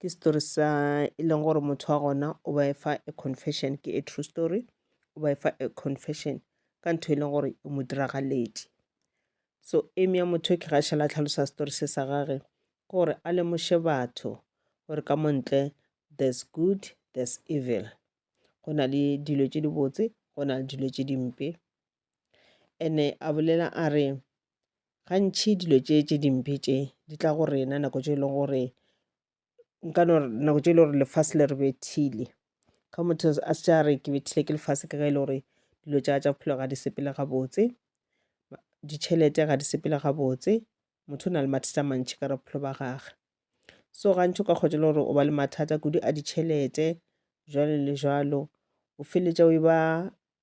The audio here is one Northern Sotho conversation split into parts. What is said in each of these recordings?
ke story sa e leng gore motho wa gona o ba efa a confession ke a true story o ba efa a confession ka ntho e leng gore e mo diragaledi so eme ya motho ke gašela tlhalosa story se sa gage gore a lemoše batho gore ka montle there's good there's evil go na le dilo tše dibotse go na le dilo tše dimpe ene a bolela a re gantši dilo tše tše dimpe tše di tla go rena nako tše e leng gore nka no re nako tše e le gore lefase le re bethile ge motho a se tša re ke bethile ke lefase ke ge e le gore dilo tša tša bophelo ga di sepele gabotse ditšhelete ga di sepele gabotse motho o na le mathata a mantši ka re bophelo ba gage so gantši o ka kgotsa e le gore o ba le mathata kudu a ditšhelete jwalo le jwalo o feleletša o e ba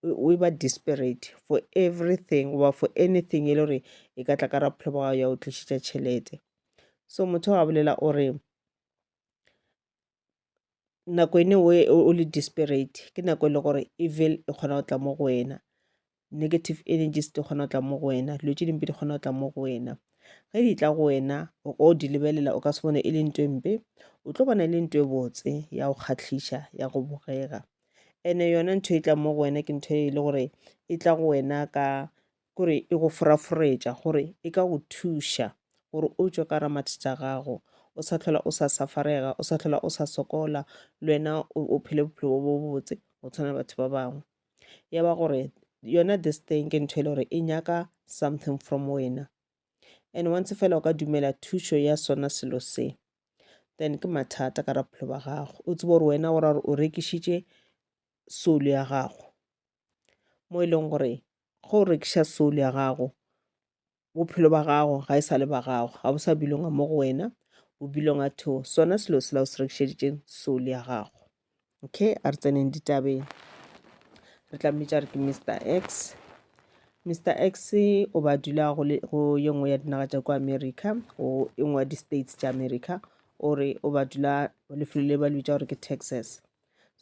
o e ba desperate for everything goba for anything e le gore e ka tla ka ra bophelo ba gago ya o tlišitša tšhelete so motho ga bolela o re nako ene o le desperate ke nako e le gore evil e kgona go tla mo go wena negative energies di kgona go tla mo go wena dilo tše dimpe di kgona go tla mo go wena ge di tla go wena o ka o di lebelela o ka se bone e le nto e mpe o tlo bona e le nto e botse ya go kgatlhiša ya go bogega ene yona ntho e tlang mo go wena ke ntho e le gore e tla go wena ka kore e go foraforetša gore e ka go thuša gore o tšwe ka ra mathata gago o sa tlhola o sa safarega o sa tlhola o sa sokola le wena o phele bophelo bo bo botse go tshwana batho ba bangwe ya ba gore yona this thing ke ntho e le gore e nyaka something from wena and once fela o ka dumela thušo ya sona selo se then ke mathata ka raphelo ba gago o tsebo gore wena o ra gore o rekišitše soul ya gago mo e leng gore ge o rekiša soul ya gago bophelo ba gago ga e sa le ba gago ga bo sa bilonga mo go wena o bilonga to sona selo sela o se rekišeditseng soul ya gago okay a re tseneng ditabeng re tla mmitša re ke mr x mr x o ba dula go ye nngwe ya dinaga tša kwa america go e nngwe ya di-states tša america o re o ba dula lefelo le ba le bitša gore ke texas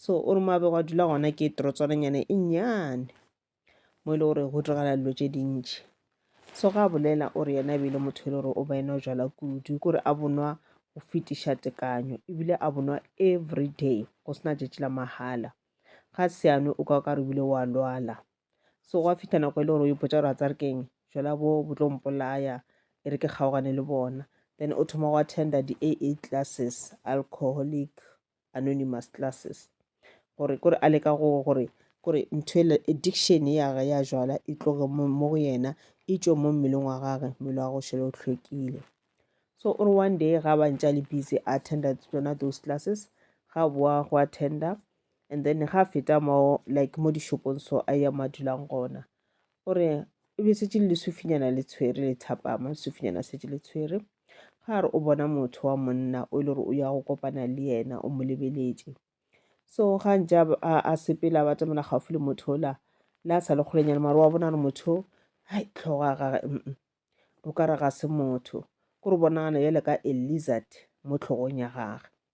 so o re moabego a dula gona ke torotswananyana e nnyane mo e le gore go diragala dilo tše dintši so ga a bolela o re yena e be e le motho e le gore o ba enwa jala kudu ke gore a bonwa go fetiša tekanyo ebile a bonwa every day go sena tšatši la mahala ga seano o ka o ka re bile wa lwala so gwa fitlha nako e le gore o ipotsa gore a tsa re keng jala bo bo tlo mpolaya e re ke kgaogane le bona then o thoma go attenda di-aa classes alcoholic anonymous classes gore kore a leka go gore kore ntho ele addiction ya gage ya jwala e tloge mo go yena e tšwe mo mmeleng wa gage mmele wa go šele o hlwekile so o re one day ga ba ntša le busy a attenda tsona those classes ga boa go attenda and then ga feta mo like mo dishopong so a ya ma dulang gona o re e be setse le lesufinyana le tshwere le thapama lesufinyana setse le tshwere Ga re o bona motho wa monna o e le gore o ya go kopana le yena o mo lebeletše so ga ntse a sepela ba tsamela gaufi le motho ola le a sa le kgolenyana mare wa bona re motho hai tlhogo ya gage o ka re ga se motho ko re bonagana bjale ka a lizard mo tlhogong ya gage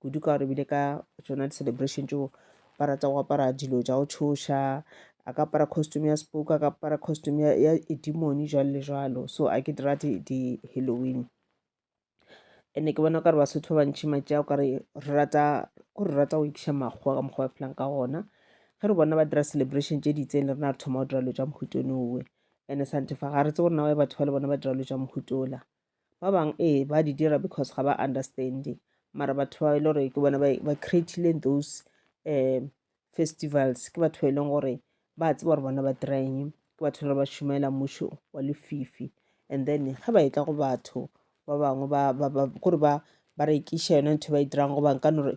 kudu ka gore ebile ka tsona di-celebration tšeo ba rata go apara dilo tša go tšhoša a ka apara costume ya spoke a ka apara costume ya, ya edimoni jalo le jalo so a ke dira di-halloween ene ke bona kare basotho ba bantšhi matši ao kare re rata ko re rata go ikiša makgowa ka mokgwa ba phelang ka gona ge re bona ba dira celebration tše di itseng le rena re thoma go dira lo tša mohutone owe ene santefa ga re tse gore nawa batho ba le bona ba dira lo tša mohutola Ba bang ee ba di dira because ga ba understand mara batho ba e le gore ke bona ba creatileng those um festivals ke batho ba e leng gore ba tseba gore bona ba dirang ke batho ba ba šomela mmušo wa lefifi and then ge ba etla go batho ba bangwe ba kore ba ba rekiša yone ntho ba e dirang go bang ka nore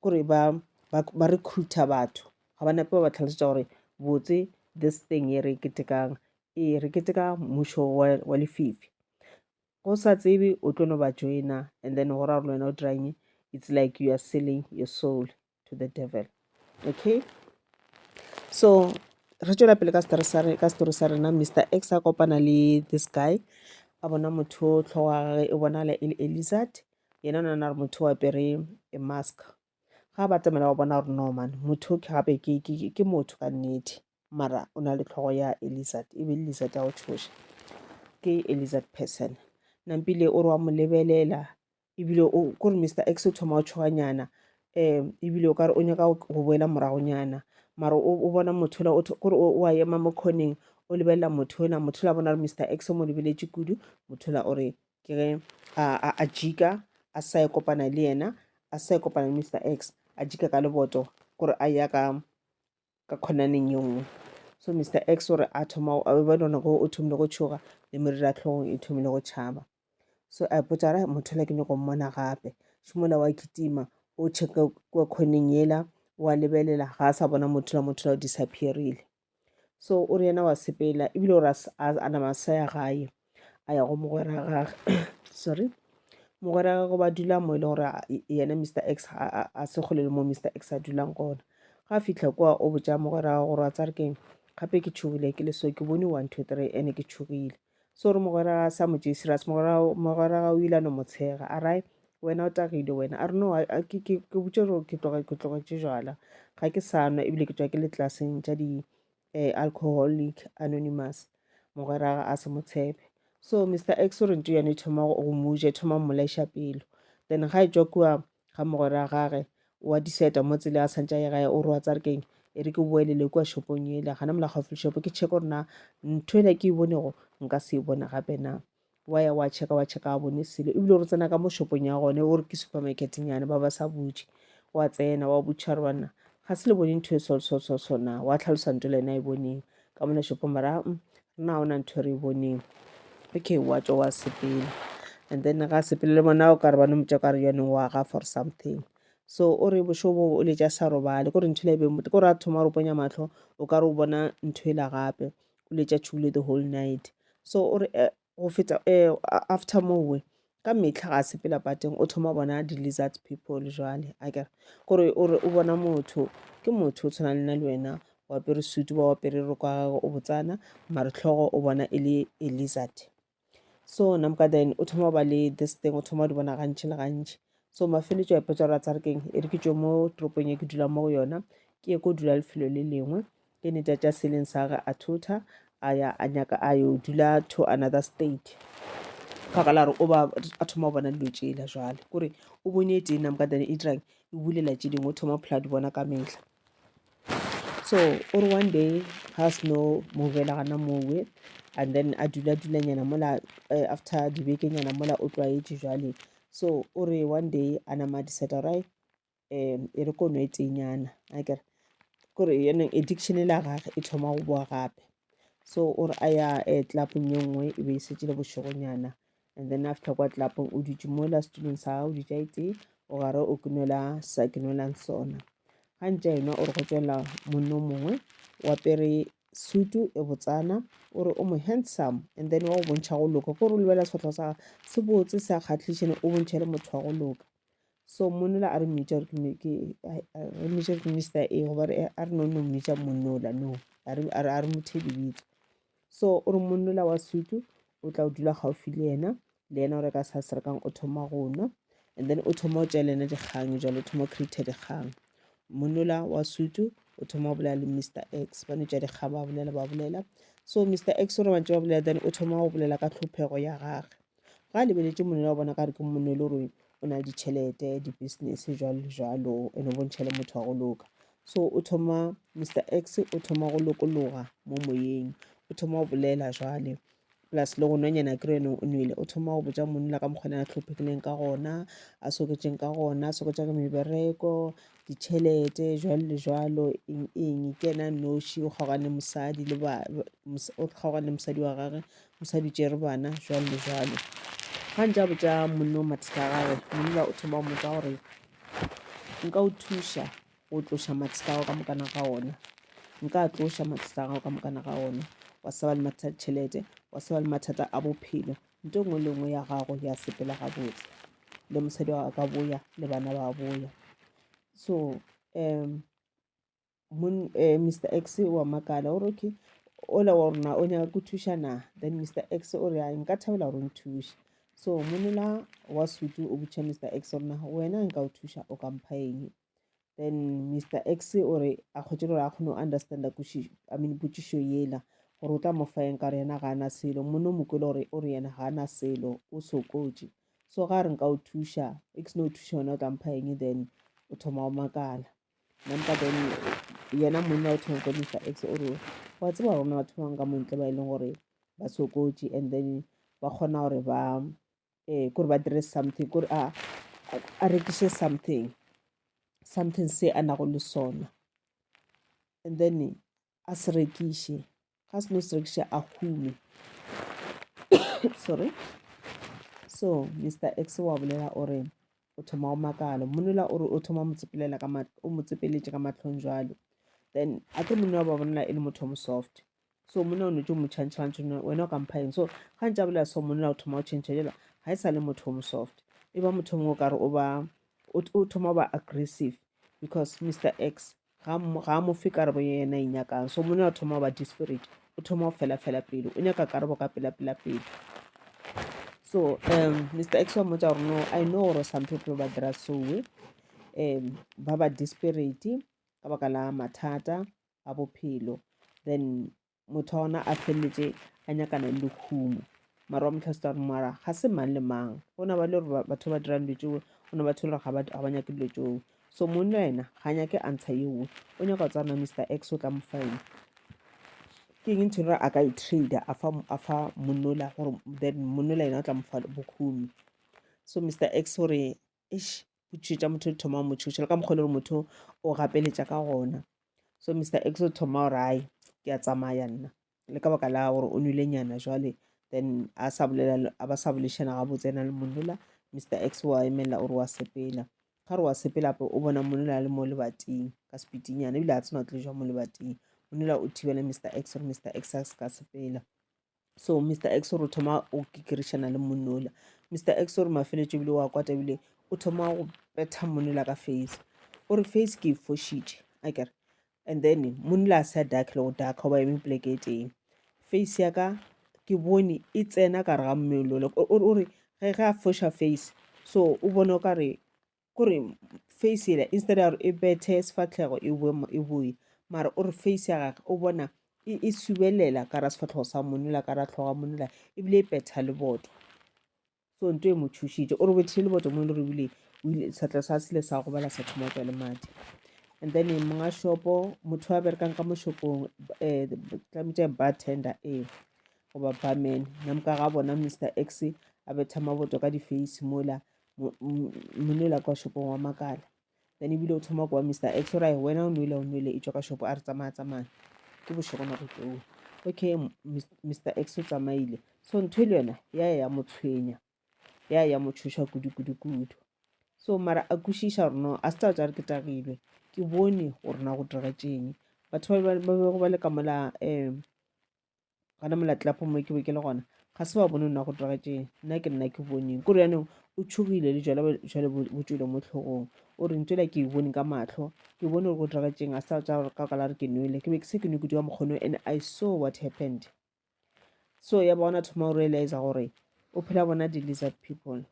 kore ba ba recruiter batho ga ba nepe ba ba tlhalosetša gore botse this thing e re e ketekang Ee, re keteka mmušo wa, wa lefifi. Go sa tsebe o tlo no ba joina and then go ra gore wena o diranye it's like you are selling your soul to the devil okay so re tšwela pele ka story sa re ka story sa rena mr x a kopana le this guy a bona motho tlhogo ya gage e bonala e le elizard yena o nana gore motho o apere e mask ga ba tsamela ba bona gore norman motho ke gape ke motho ka nnete mara o na le tlhogo ya elizard e be e lizard ya go tshoša ke elizard person nampile o re wa mo lebelela ebile kore mr x o thoma o tshoganyana um ebile o kare o nyaka go boela moragonyana mara o bona motho la kore o a ema mo kgoneng o lebelela motho ona motho la bona re mr x o mo lebeletše kudu motho la o re ke ge a jika a sa e kopana le yena a sa e kopana le mr x a jika ka leboto kore a ya ka ka khonaneng ye nngwe so mr x o re a thoma a be ba dona go o thomile go tšhoga le merira tlhogong e thomile go tšhaba so a ipotsa ra motho la ke nyoko mmona gape šimola wa kitima o checka kwa khoneng yela wa lebelela ga a sa bona motho la motho la o disappearile so o re yena wa sepela ebile o re a nama sa ya gae a ya go mogwera gage sorry mogwera gagwe ba dula mo e le gore yena mr x a se kgole le mo mr x a dulang gona ga fitlha kwa o botsa mogwera gagwe gore wa tsa re keng gape ke tšhogile ke le so ke bone one two three ene ke tšhogile so re mogwera sa mo tšee serious mogwera ga o ile no motshega a rai wena o tagile wena a re no ke botse gore ke tlogetše jala ga ke sa nwa ebile ke tswa ke le tlelaseng tša di eh, alcoholic anonymous mogwera ga a se mo tshepe so mr x o rente yone thoma go muje thoma mmolaiša pelo then ga e tswa kua ga mogwera gage wa diseta mo tsele a santša ye gae o re wa tsa re keng e re ke boelele kua shopong ele gana mola gaufi le shopo ke check gore na ntho ena ke e bonego nka se e bone gape na Wa ya wa checka wa checka a bone selo ebile re tsena ka mo shopong ya gone o re ke supermarket nyane ba ba sa butše wa tsena wa butšha re banna ga se le bone ntho e solsolsolso na wa tlhalosa nto le ena e boneng ka mona shopong mara mm, rena ga ona ntho e re e boneng okay wa tswa wa sepela and then ga sepele le bona o ka re bane motsa ka re yone wa ga for something so o re bošobo o letša sa robale ko re ntho le e beng gore a thoma re ponya matlho o ka re o bona ntho e la gape o letša tšhulo the whole night so o re eh, go feta eh, after mowe ka metlha ga sepela pateng o thoma bona di-lizards people jale a kere gore o re o bona motho ke motho o tshwana le na le wena o apere sutu ba o apere roko ya gagwe o botsana maretlhogo o bona e le e lizard so namka then o thoma ba le this thing o thoma o di bona gantši le gantši so mafeletšo a ipotsa gore a tsare keng e re ke tšo mo toropong e ke dulang mo go yona ke ye ko dula lefelo le lengwe ke ne tša tša seleng sa gage a thotha a ya a nyaka a yo dula to another state baka la gore o ba a thoma go bona dilo tšela jale kore o bone e tee namka then e dirang e bulela tše dingwe o thoma phela di bona ka metlha so o re one day ga se no mo bela gana mowe and then a dula dulanyana mola uh, after dibekenyana mola o tlwaetše jwale so o re one day a nama diseta rai um e re kono e tenyana a kere kore yanong addiction la gage e thoma go boa gape so o re a ya um tlapong ye nngwe e be e setse le bošegonyana and then after kwa tlelapong o dutše mo la setulong sa gago dutša etse o gare o ke nwela sa ke nwelang sona ga ntša enwa o re go tswelela monne o mongwe wa pere sutu e botsana o re o mo handsome and then wa go bontšha go loka ko re lebela sefatlho sa se botse se a kgatlhišene o bontšhe le motho wa go loka so monnola a re mmitša re mmitša re mista e goba a re no no mmitša monnola no a re mo thebibitso So o re monna ola wa sutu o tla o dula gaufi le yena le yena o re ka sa serekang o thoma go nwa and then o thoma o tšea le yena dikgang jalo o thoma o create dikgang monna ola wa sutu o thoma o bolela le mr x ba no tšea dikgang ba bolela ba bolela so mr x o re mantse ba bolela then o thoma go bolela ka tlhophego ya gage ga a lebeletše monwele wa bona ka re ke monwele o reng o na le ditšhelete di-business jalo le jalo and o bontšha le motho wa go loka so o thoma mr x o thoma go lokologa mo moyeng o thoma go bolela jwale plus le go nonyana ke reno o nwele o thoma go botsa monna ka mokgona a tlhophegileng ka gona a soketseng ka gona a soketsa ka mebereko ditšhelete jwalo le jwalo eng eng ke ena noši o kgaogane mosadi le ba o kgaogane mosadi wa gage O sa di tšere bana, jwalo le jwalo. Ga ntša botša monna o mathata a gagwe, monna o thoma go mmotsa gore, Nka o thuša go tloša mathata a gago ka mokana ga ona? Nka a tloša mathata a gago ka mokana ga ona? Wa sa ba le mathata a ditšhelete, wa sa ba le mathata a bophelo, nto nngwe le nngwe ya gago ya sepela gabotse. Le mosadi wa gago a ka boya, le bana ba boya. So um Mun, eh, mr x wa makala o re okay ola wa rona o nyaka ku thuša na then mr x o re "Ai, nka thabela gore o nthuše so monela wa sutu o botša mr x gore na wena nka o thuša o ka mpha eng then mr x o re a kgwetše gore a kgone go understanda kuši- I mean, potšišo yela gore o tla mo fa eng ka gore yena ga a na selo monna o mo kwele gore o re yena ga a na selo o sokotše so ga a re nka o thuša x no o thuša wena o tla mpha eng then o thoma o makala Nampa then yena monna o thoma go Mr X o re wa tseba gore na batho ba bangwe ka montle ba e leng gore ba sokotše and then ba kgona gore ba eh kore ba dire something kore a a rekiše something something se a nago le sona and then a se rekiše ga seno se rekiše a hume sorry so mr x wa bolela o re o thoma o makala mmonela o re o thoma motsepelela ka o motsepeletše ka matlhong jalo then a tlo monna wa ba bolela e le motho o mo soft so monna o ne tse mo change gantse wena o kampha eng so ga ntse a bolela so monna o thoma o change jela ga e sa le motho o mo soft e ba motho mongwe o kare o ba o thoma o ba aggressive because mr x ga mo- ga a mo fe karabo ye yena e nyakang so monna o thoma go ba desperate o thoma go felafela pelo o nyaka karabo ka pelapelapelo so um mr x wa mmotsa gore no i know gore some people ba dira soe um ba ba desperate ka baka la mathata a bophelo then motho wa gona a feleletše a nyakana le lekhumo mara wa motlha seta gore mara ga se mang le mang go na ba le gore batho ba dirang dilo tseo go na batho le gore ga ba nyake dilo tseo so mong le wena ga nyake answer yeo o nyaka go tswana mr x o tla mo faena ke eng ntho gore a ka e trader a fa monnola gore then monnola yena o tla mo fa bokhumi so mr x gore eish go tšhoetša motho o thoma o mo tšhoša le ka mokgwa e le gore motho o gapeletša ka gona so mr x o thoma gore ai ke a tsamaya nna le ka baka la gore o nwile nyana jwale then a sa bolela a ba sa bolešana gabotse ena le monola mr x wa emelela o re wa sepela ga re wa sepela ape o bona monola le mo lebating ka sepitinyana ebile a tsena o tlo jwa mo lebating monola o thibela mr x gore mr x a se ka sepela so mr x o re thoma o kikirišana le monola mr x o re mafeletšo ebile wa kwata ebile o thoma go betha monola ka face o re face ke e fošitše a kere and then monola a sa dark le go dark goba eme poleke e tee face ya ka ke bone e tsena ka re ga mmelolo o re ge ge a foša face so o bone o ka re kore face yela instead ya gore e bethe sefatlhego e boe e boe mara o re face ya gage o bona e, e subelela ka ra sefatlhego sa monela ka ra tlhoga monela ebile e betha le boto so nto e mo thušitše o re bethile le boto mo e le gore ebile setlha sa sele sa go bala sa thoma tswa le madi and then monga shopo motho a berekang ka moshopong um eh, tlametse ba tender ee goba barman namka ga bona mr x a betha maboto ka di-face mola monela kwa shopong wa makala then ebile o thoma kwa mr x o ra wena o nwele o nwele e tswa ka shopo a re tsamaya tsamaya ke bošego nako tseo okay mr x o tsamaile so ntho e le yona ya ya ya mo tshwenya ya ya mo tshoša kudu-kudu-kudu so mara a kwešiša gore no a se tsa tsa re ke tagilwe ke bone gore na go diragatšeng batho ba bego ba le ka mola um gana molatlapo mo ke be ke le gona ga se wa bone nna go tiragatšeng nna ke nna ke boneng kore yanong o tshogile le jale jale bo tswile mo tlhogong o reng tswela ke e bone ka matlho ke bone gore go tiragatšeng a sa tsa ka kala re ke nwele ke be ke se ke nwe kudu ka mokgono and i saw what happened so ya bona thoma o realize gore o phela bona di-lizard people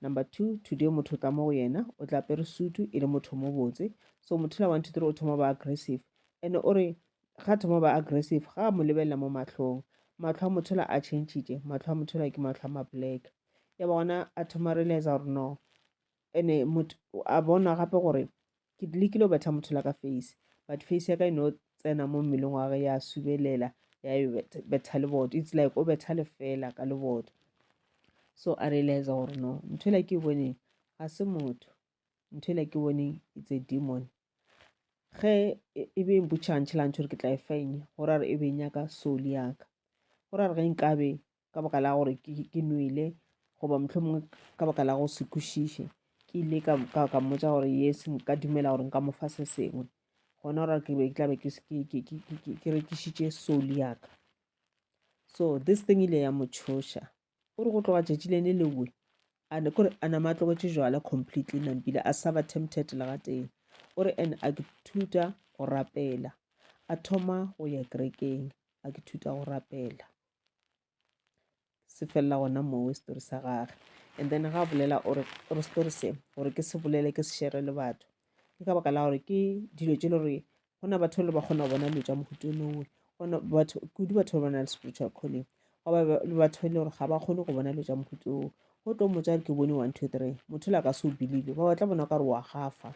number two today motho o tla mo go yena o tla pere sutu e le motho mo botse so motho la one two three o thoma ba aggressive and o re ga thoma ba aggressive ga mo lebelela mo matlhong matlho a motho la a changile matlho a motho la ke matlho a ma black ya bona a thoma realize gore no ene motho a bona gape gore ke lekile go betha motho la ka face but face ya ka e no tsena mo mmeleng wa ge ya subelela ya e betha leboto it's like o betha lefela ka leboto so a realize gore no ntho e la ke e boneng ga se motho ntho e la ke boneng it's a demon ge e, e be mpotšhantšhe la ntšho gore ke tla e fenya gore a re e be nyaka soli yaka gore a re ge nkabe ka baka la gore ke nwele goba motlho mongwe ka baka la go se kwešiše ke ile ka mmotsa gore yes nka dumela gore nka mo fa se sengwe gona gore ke be ke tlabe ke rekisitše soli yaka so this thing ile ya mo tshoša o re go tloga tšatši le ne lewe kore a nama a tlogetse jwala completely nampile a sa ba tempted le ga tee o re and a ke thuta go rapela a thoma go ya kerekeng a ke thuta go rapela se felela gona mowe story sa gage and then ga bolela o re story se gore ke se bolele ke se shere le batho ke ka baka la gore ke dilo tse le gore go na batho le ba kgona go bona dilo tša mohuto o nowe gona batho kudu batho ba ba na le spiritual calling goba le batho e le gore ga ba kgone go bona dilo tša mohuto oo go tlo motsa re ke bone one two three motho la ka se o believe ba batla bona ka re wa gafa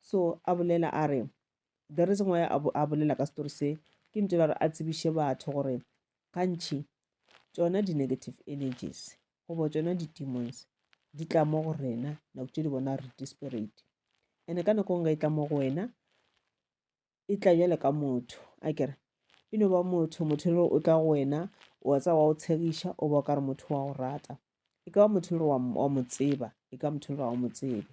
so a bolela a re the reason why a bolela ka story se ke ntse la gore a tsebiše batho gore gantšhi tsona di-negative energies goba tšona di-demons di tla mo go rena nako tše di bona re desperate ene ka nako nka e tla mo go wena e tla jale ka motho a kere e no ba motho motho le o tla go wena o wa tsa wa o tshegiša o ba o ka re motho wa go rata e ka ba motho le wa mo tseba e ka motho le wa o mo tsebe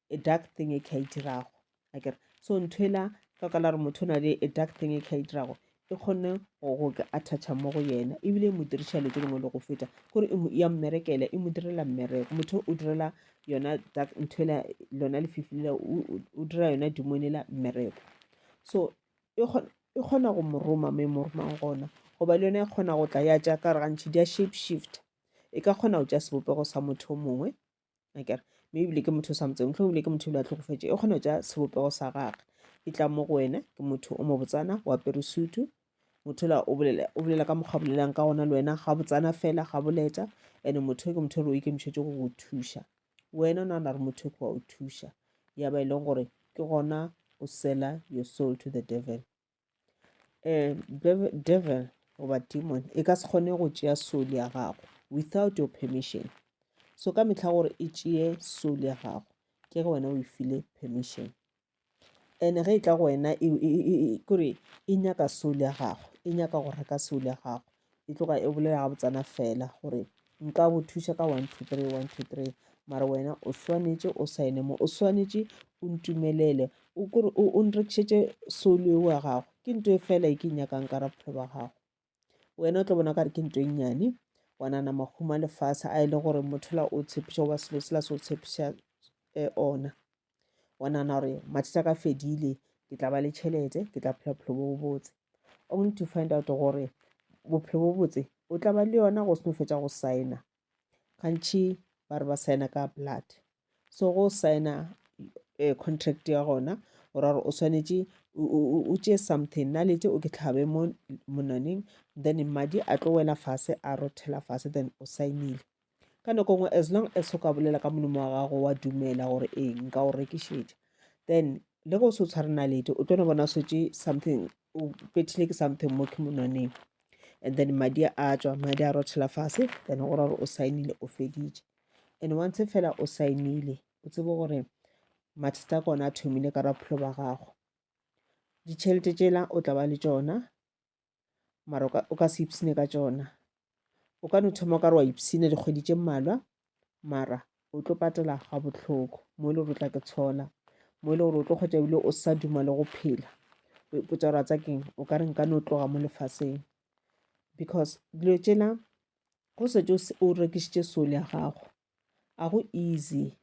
a dark thing e ka e dirago akere so nthwela ka ka la re motho o na le a dark thing e ka e dirago e kgonne go ka attacha mo go yena ebile e mo diriša dilo tse dingwe le go feta kore e ya mmerekela e mo direla mmereko motho o direla yona nthwela lona lefifi lela o dira yona dimone la mmereko so e kgona go mo roma mo e mo romang gona goba le yone e kgona go tla ya jaaka re gantšhi di ya shape shift e ka kgona go ja sebopego sa motho o mongwe akere mme ebile ke motho o sa motseng motlho ebile ke motho ebile a tlhokofetse e kgone go ja sebopego sa gage e tla mo go wena ke motho o mo botsana o apere sutu motho la o bolela ka mokgwa bolelang ka gona le wena ga botsana fela ga boleta and motho ke motho re o ikemišetse go go thuša wena o nagana re motho ke wa o thuša ya ba e leng gore ke gona o sela your soul to the devil um devil goba demon e ka se kgone go tšea soul ya gago without your permission so ka mehla gore e tšee soul ya gago ke ge wena o e file permission and ge e tla go wena e, e, e, e, kore e nyaka soul ya gago e nyaka go reka soul ya gago e tloga e bolela ga botsana fela gore nka go thuša ka one two three one two three mara wena o swanetše o saene mo o swanetše o ntumelele o kore o nrekišetše solo eo ya gago ke nto e fela e ke nyakang ka ra bophelo ba gago wena o tlo bona kare ke nto e nnyane wa nana maguma lefase a e le gore mothola o tshepiša goba selo sela se o tshepiša eh, ona wa nagana gore mathata ka fedile ke tla ba le tšhelete ke tla phela bophelo bo botse only to find out gore bophelo bo botse o tla ba le yona go seno fetsa go signa gantšhi ba re ba signa ka blood so go signa eh, contract ya gona ora gore o swanetše o tšee something na lete o ke tlhabe mo monaneng then madi a tlo wela fase a rothela fase then o saenile ka nako ngwe as long as o ka bolela ka molomo wa gago wa dumela gore ee nka o rekišetša then le go se o tshware nalete o tlo no bona swetse something o pethile ke something mo ke monwaneng and then madi a tswa madi a rothela fase then go ra gore o saenile o feditše and once fela o saenile o tsebe gore mathata a kona a thomile ka rapholo ba gago ditšhelete tšela o tla ba le tšona mara o ka se ipsine ka tšona o ka no thoma o ka re wa ipsina dikgwedi tše mmalwa mara o tlo patela ga botlhoko mo e le gore o tla ke tshola mo e le gore o tlo kgwetsa ebile o sa duma le go phela o ipotsa gore a tsa keng o ka re nka no tloga mo lefaseng because dilo tšela go setse o rekisitše sole ya gago a go easy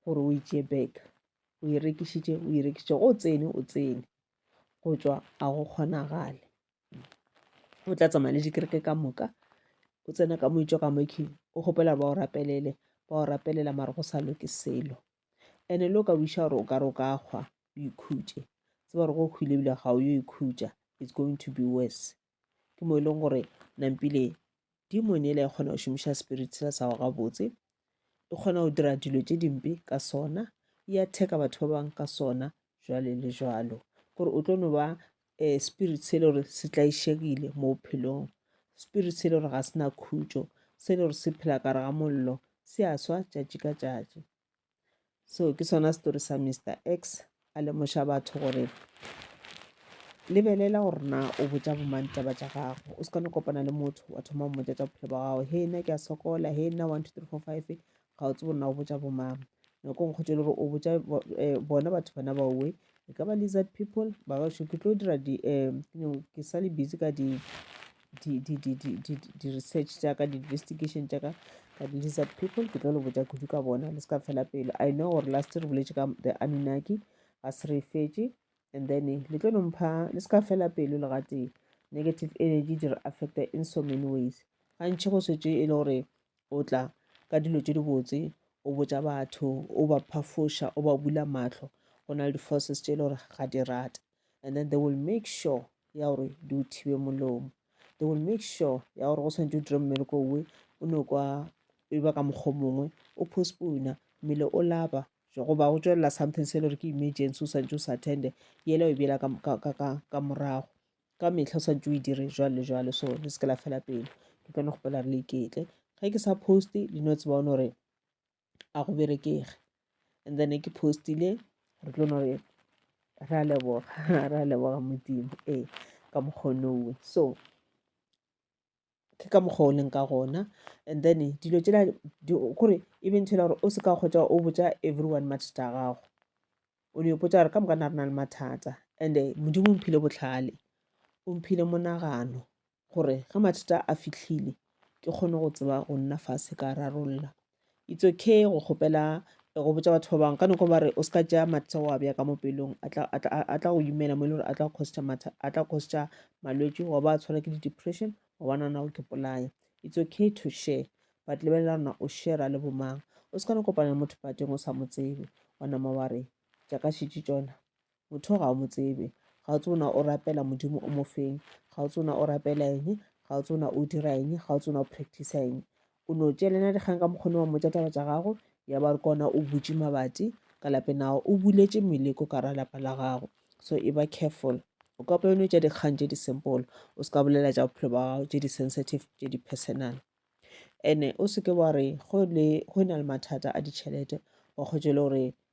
gore o itšee back o e rekišitše o e rekišitše go o tsene o tsene go tšwa a go kgonagale o tla tsamaya le dikereke ka moka o tsena ka moitšwa ka mokhing o kgopela ba o rapelele ba o rapelela mare go sa loke selo ene le o ka buša gore o ka re o ka kgwa o ikhutše tse ba re go kgwile ebile ga o yo ikhutša it's going to be worse ke mo e leng gore nampile demon ele e kgona go šomiša spirit sela sa go gabotse e kgona go dira dilo tše dimpe ka sona e atheka batho ba bangwe ka sona jwale le jwalo gore o tlo no ba um spirit se e le gore se tlaišegile mo bophelong spirit se e le gore ga se na khutšo se e le gore se phela kare ga mollo se a swa tšatši ka tšatši so ke sona story sa mr x a lemoša batho gore lebelela gore na o botša bomang taba tša gago o se kone kopana le motho wa thoma mmotša tša bophelo ba gago he nna ke a sokola he nna one two three four five ga o tsebo nna o botša bomang nako e nkgotse le gore o botša eh, bona batho bana ba uwe e ka ba lizard people ba gašo ke tlo dira di um ke sa le busy ka di di-research tša ka di-investigation tša ka ka di-lizard people ke tlo le botša kudu ka bona le se ka fela pelo i know gore last re boletše ka the anunnaki ga se re fetše and then eh, le tlo nompha le se ka fela pelo le gatee negative energy di re affecta in so many ways gantši go swetse e le gore o tla ka dilo tse dibotse o botša batho o ba phafoša o ba bula matlho go na le di-forces tse e le gore ga di rate and then they will make sure ya gore di o thibe molomo they will make sure ya gore go tshwanetse o dire mmereko owe o ne kwa e ba ka mokgwa mongwe o postpona mmele o lapa goba go tswelela something se le gore ke emergency o swantse o sa attende yela o bjela ka morago ka metlha o swantse o e dire jwale le jwale so le se ke la fela pelo ke kone go pela re le iketle ge ke sa poste le no tsebaone gore a go berekege and then ke postile re tlo no re ra leboga ra leboga modimo ee ka mokgonowe so ke ka mokgwa o leng ka gona and then dilo tsela kore e bentšhela gore o se ka kgotsa o botsa everyone mathata a gago o ne potsa gore ka moka na re na le mathata and-e modimo o mphile botlhale o mphile monagano gore ge mathata a fihlile ke kgone go tseba go nna fase ka rarolla it's okay go kgopela eh, go botsa batho ba bangwe ka noko ba re o se ka tšea mathata wa bja ka mo pelong a tla go imela mo e le gore a tla costa matha a tla costa malwetse wa ba tshwara ke di-depression wa ba nana o ke polaya it's okay to share but lebelela rona o share le bomang o se ka no kopana le motho pateng o sa mo tsebe wa nama wa re jaaka šitše tsona motho ga o mo tsebe ga o tsona o rapela modimo o mo feng ga o tsona o rapela eng ga o tsona o dira eng ga o tsona o practice eng o no tšelena dikgang ka mokgone wa motša taba tša gago ya ba re kona o butše mabati ka lape nago o buletše meleko ka ra lapa la gago so e ba careful o ka pone tša dikgang tše di-simple o se ka bolela tša bophelo ba gago tše di-sensitive tše di-personal ene o seke wa re go e na le mathata a ditšhelete wa kgotšele gore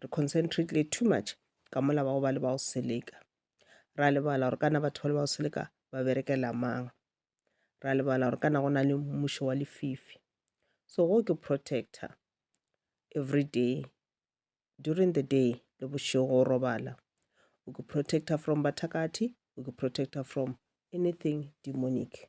re concentrate too much ka mola bao ba le bao seleka ra lebala gore kana batho ba le bao seleka ba berekela mang ra lebala gore kana go na le mmušo wa lefifi so go ke protector every day during the day le bošego o robala o ke protector from bathakathi o ke protector from anything demonic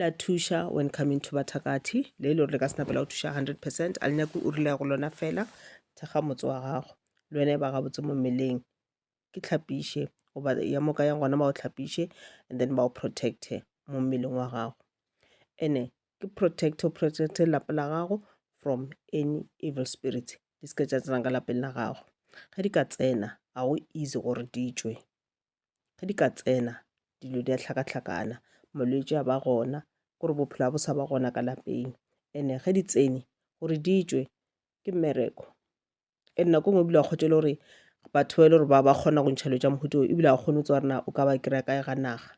la thuša when coming to bathakathi le e le gore le ka se napela go thuša 100 percent a le nyako o rile go lona fela thekga motse wa gago le wena e ba gabotse mo mmeleng ke tlhapiše goba ya moka yang gona ba o tlhapiše and then ba o protecte mo mmeleng wa gago ene ke protecto protecte lapa la gago from any evil spirit di se ka tša tsenang ka lapeng la gago ge di ka tsena ga go easy gore di tšwe ge di ka tsena dilo di a tlhakatlhakana molwetši a ba gona gore bophelo bo sa ba gona ka lapeng ene ge di tsene gore di tšwe ke mmereko e nna ko ngwe bile a kgotšele gore batho ba e le gore ba ba kgona go ntšhelo tša mohuto ebile a kgone tsa gore na o ka ba kry-a kae ga naga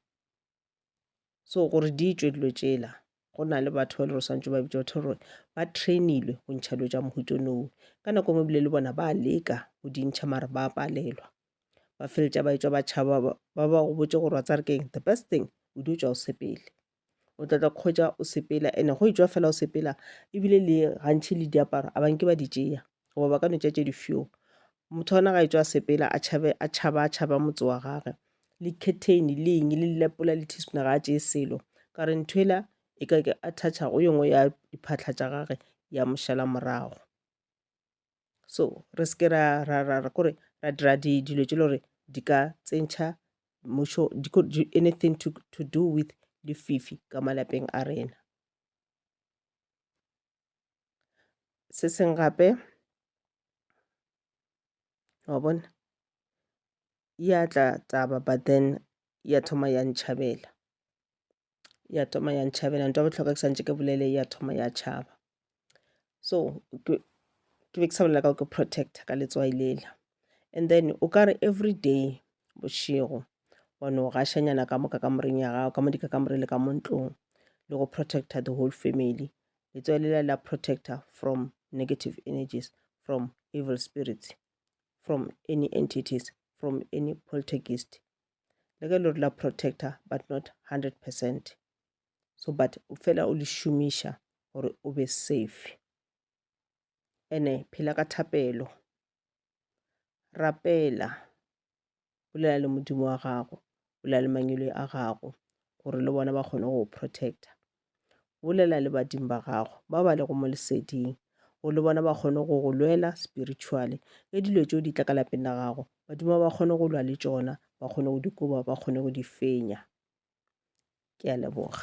so gore di tšwe dilo tšela go na le batho ba le re swantse ba bitša batho gore ba trainilwe go ntšha dilo tša mohutonoo ka nako ngwe bile le bona ba leka go di ntšha mare ba palelwa ba feletša ba etswa ba tšhaba ba ba go botse gore wa tsa re keng the best thing o di o tswa o sepele o tla tla kgwetsa o sepela ene go etswa fela o sepela ebile le gantšhi le diaparo a banke ba di tšeya goba ba ka no tša tše difio motho ona ga e tswa sepela a tšhabe a tšhaba a tšhaba motse wa gage le curtain le eng le lepola le teaspoon ga a tšee selo ka re ntho ela e ka ke a thatšha go yengwe ya diphatlha tša gage ya mošala morago so re se ke ra ra ra ra kore ra dira di dilo tše le gore di ka tsentšha mušo di could do anything to to do with lefifi ka malapeng a rena se seng gape wa bona ya tla taba but then ya thoma ya ntšhabela ya thoma ya ntšhabela nto botlhokwa ke santse ke bolele ya thoma ya tšhaba so ke be ke sa bolela ka go ke protector ka letswai lela and then o ka re every day bošego wa no gašanyana ka moka kamoreng ya gago ka mo dikakamore le ka mo ntlong le go protecta the whole family letswai le la la protecta from negative energies from evil spirits from any entities from any poltergeist le ge le re la protecta but not 100 percent so but fela o le šomiša gore o be safe ene phela ka thapelo Rapela, bolela le Modimo wa gago, bolela le mangwele a gago, gore le bona ba kgone go protecta. Bolela le badimo ba gago, ba ba lego mo leseding, gore le bona ba kgone go go lwela spiritually. Le dilo tšeo di tla ka lapeng la gago, badimo ba kgone go lwa le tšona, ba kgone go di koba, ba kgone go di fenya. Ke a leboga.